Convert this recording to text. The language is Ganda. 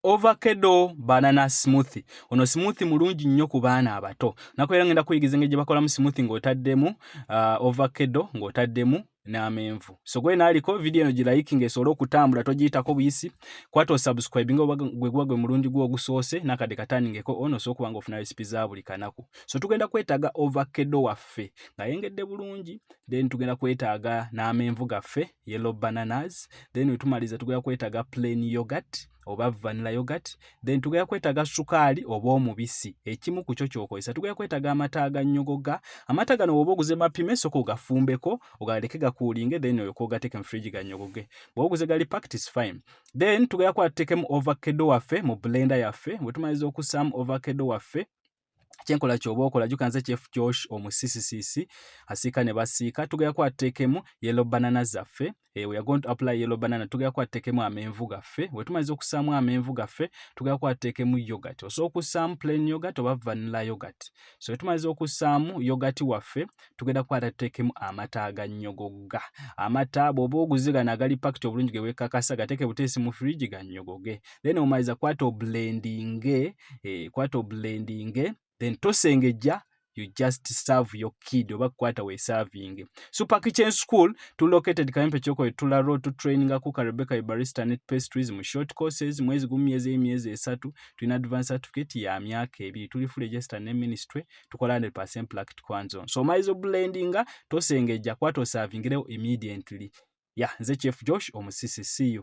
ovakedo banana smoothi ono smoothi mulungi nnyo ku baana abato naku era ngenda kuyigiza engeri gye bakolamu smoothi ng'otaddemu uh, ovakedo ng'otaddemu n'amenvu so gwe naaliko vidiyo eno gilayiki ng'esobole okutambula togiyitako buyisi kwata osubscribe nga gwe guba gwe mulundi gwo ogusoose nakadde katandingeko ono osobola okuba nga ofuna resipi za buli kanaku so tugenda kwetaaga ovakedo waffe ng'ayengedde bulungi then tugenda kwetaaga n'amenvu gaffe yellow bananas then wetumaliza tugenda kwetaga plain yogurt oba vanilla yogurt then tugenda kwetaga sukaali oba omubisi ekimu ku kyo kyokozesa tugenda kwetaga amata aganyogoga amata gano woba oguze mapime soka ogafumbeko ogaleke gakuulinge then oyo kogateke mu fridge ganyogoge bwoba oguze gali packed is fine then tugenda kuba tutekemu ovakkedo waffe mu blender yaffe wetumaliza okusaamu ovakkedo waffe kyenkola kyoba okola juka nze chef josh omusisisisi asiika ne basiika tugera kwatekemu yellow banana zaffe eh, we are going to apply yellow banana tugera kwatekemu amenvu gaffe wetumaliza okusaamu amenvu gaffe tugera kwatekemu yogurt osobola okusaamu plain yogurt oba vanilla yogurt so wetumaliza okusaamu yogurt waffe tugenda kwata tutekemu amata agannyogoga amata bwoba oguzigana agali pakiti obulungi gewekakasa gateke buteesi mu fridge gannyogoge then omaliza kwata oblendinge eh, kwata oblendinge then tosengejja you just serve your kid oba kukwata wesavinge super kitchen school to located kayempe kyoko etula road to training akuka rebecca ibarista net pastries mu short courses mwezi gumu myezi eyi myezi esatu tulina advance certificate ya myaka ebiri tuli full register ne ministry tukola 100 placket kwanzon so omaizi oblendinga tosengejja kwata osavingirewo immediately ya yeah, nze chief josh omusisi see you